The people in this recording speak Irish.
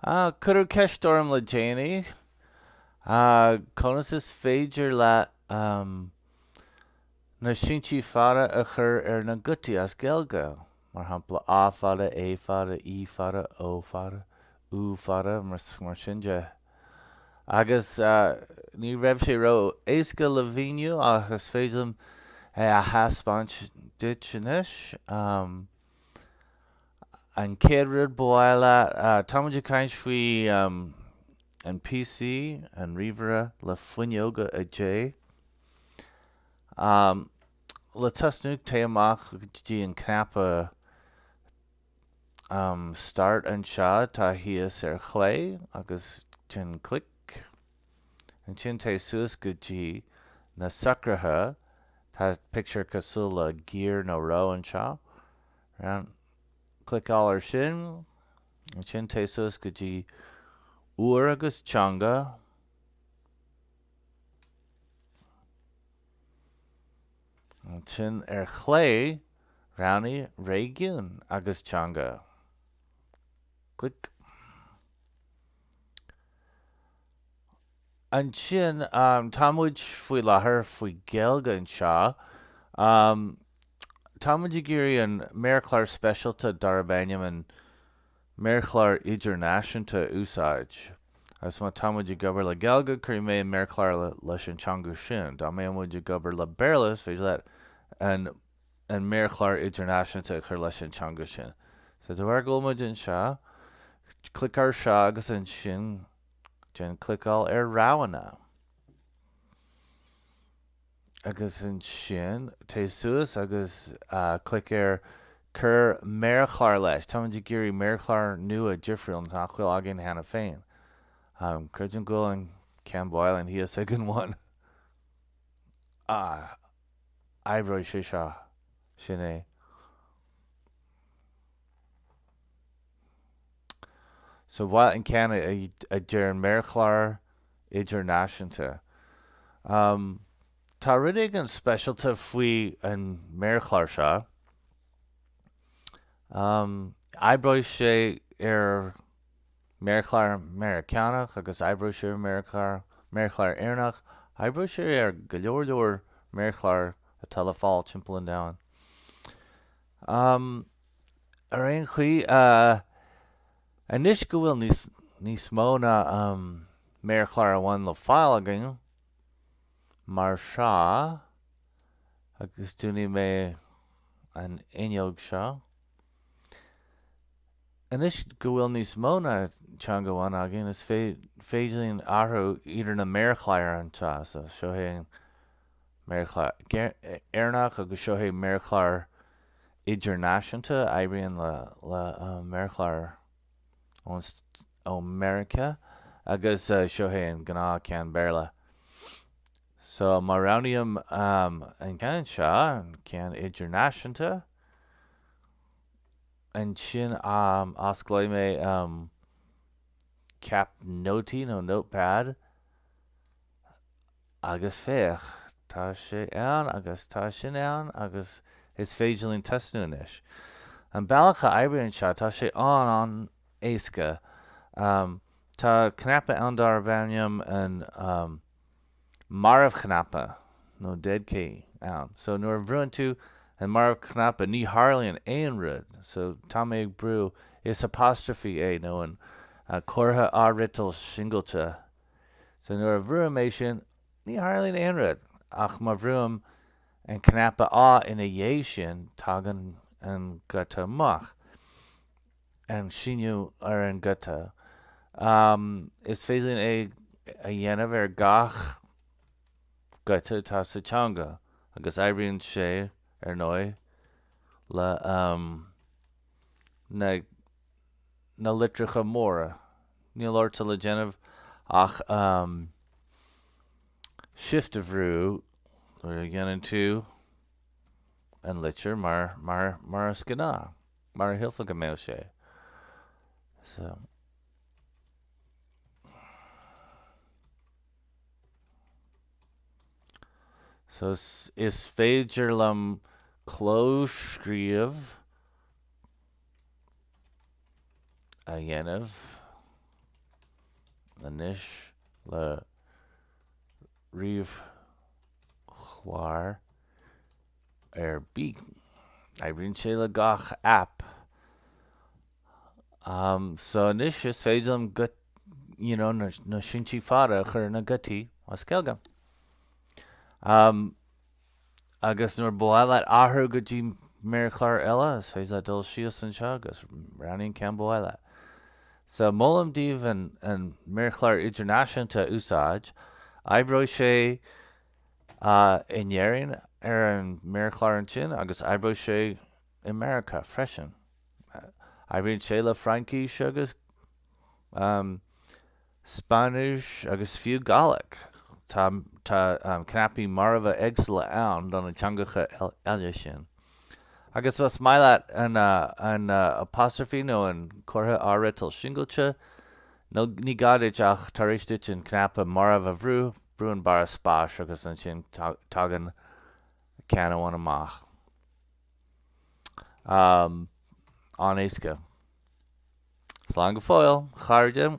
Cuireadh ceist orm le déanaí conas is féidir leat na síntí fada a chur ar na gutaí as Gaeilge, mar shampla A fada, E fada, I fada, O fada, U fada, mar sin de, agus ní raibh sé ró éasca le mhíniú ach is féidir liom é a thaispeáint duit anois. An chéad rud ba mhaith leat, tá muid ag caint faoi an PC, an ríomhaire le fuinneoga 10. Le tosnú, téigh amach go dtí an cnaipe Start anseo atá thíos ar chlé agus déan clic. Ansin téigh suas go dtí na socruithe, tá pictiúr cosúil le gear nó roth anseo, round, cliceáil ar sin, ansin téigh suas go dtí uair agus teanga, ansin ar chlé roghnaigh réigiún agus teanga, clic. Ansin, tá muid faoi láthair faoi Gaeilge anseo. Tá muid ag iarraidh an méarchlár speisialta darb ainm an Méarchlár Idirnáisiúnta a úsáid, agus má tá muid ag obair le Gaeilge, cuirfidh mé an méarchlár leis an teanga sin. Dá mbeadh muid ag obair le Béarla, is féidir leat an. an méarchlár idirnáisiúnta a chur leis an teanga sin. So, de bharr go bhfuil muid anseo, clic ar seo agus ansin déan cliceáil ar roghanna. Agus ansin téigh suas agus clic ar Cuir méarchlár leis. Táimid ag iarraidh méarchlár nua difriúil nach bhfuil againn cheana féin. Creidim go bhfuil an ceann ba mhaith linn thíos ag an bhun. Oibreoidh sé seo, sin é. So ba mhaith leat an ceann a deir an méarchlár idirnáisiúnta. Tá rud éigin speisialta faoi an méarchlár seo. Oibreoidh sé ar. méarchlár Meiriceánach agus oibreoidh sé ar mhéarchlár, méarchlár Éireannach, oibreoidh sé ar go leor leor méarchlár atá le fáil timpeall an domhain. Um, ar aon chaoi, uh, anois go bhfuil níos, níos mó ná, um, méarchlár amháin le fáil againn, mar seo, agus dúnfaidh mé an fhuinneog seo. Anois go bhfuil níos mó ná teanga amháin againn, is féidir linn athrú idir na méarchláir atá, so seo é an méarchlár Éireannach agus seo é an méarchlár idirnáisiúnta a oibríonn le méarchláir ó Mheiriceá agus seo é an gnáthcheann Béarla. So má roghnaím an ceann seo, an ceann idirnáisiúnta, ansin osclóidh mé ceap nótaí nó notepad agus féach, tá sé ann agus tá sin ann agus is féidir linn tosnú anois. An bealach a oibríonn seo, tá sé an-éasca. Tá cnaipe ann darb ainm an. marbhchnaipe nó dead key ann so nuair a bhrúann tú an marbhchnaipe ní tharlaíonn aon rud so tá mé ag brú is apostrophe é nó an comhartha athfhriotail singilte so nuair a bhrúim é sin ní tharlaíonn aon rud ach má bhrúim an cnaipe a ina dhiaidh sin tagann an guta amach. an síniú ar an guta. Is féidir linn é a dhéanamh ar gach guta atá sa teanga agus oibríonn sé, ar ndóigh, le na na litreacha móra. Níl ort le déanamh ach Shift a bhrú nuair a dhéanann tú an litir mar is gnáth. Mar a shílfeá go mbeadh sé. So is féidir liom clóscríobh a dhéanamh anois le méarchlár. ar bith. Oibríonn sé le gach aip. So anois is féidir liom gut you know na na síntí fada a chur ar na gutaí as Gaeilge. Agus nuair ba mhaith leat athrú go dtí méarchlár eile is féidir leat dul síos anseo agus roghnaigh an ceann ba mhaith leat. So molaim daoibh an méarchlár idirnáisiúnta a úsáid. Oibreoidh sé. in Éirinn ar an méarchlár ansin agus oibreoidh sé i Meiriceá freisin. Oibríonn sé le Fraincis agus Spáinnis agus fiú Gàidhlig, tá cnaipí marbha éagsúla ann do na teangacha eile sin. Agus más maith leat an apostrophe nó an comhartha athfhriotail singilte, ní gá duit ach, tar éis duit an cnaipe marbh a bhrú, Brú an barra spáis agus ansin tagann ceann amháin amach. An-éasca. Slán go fóill, a chairde!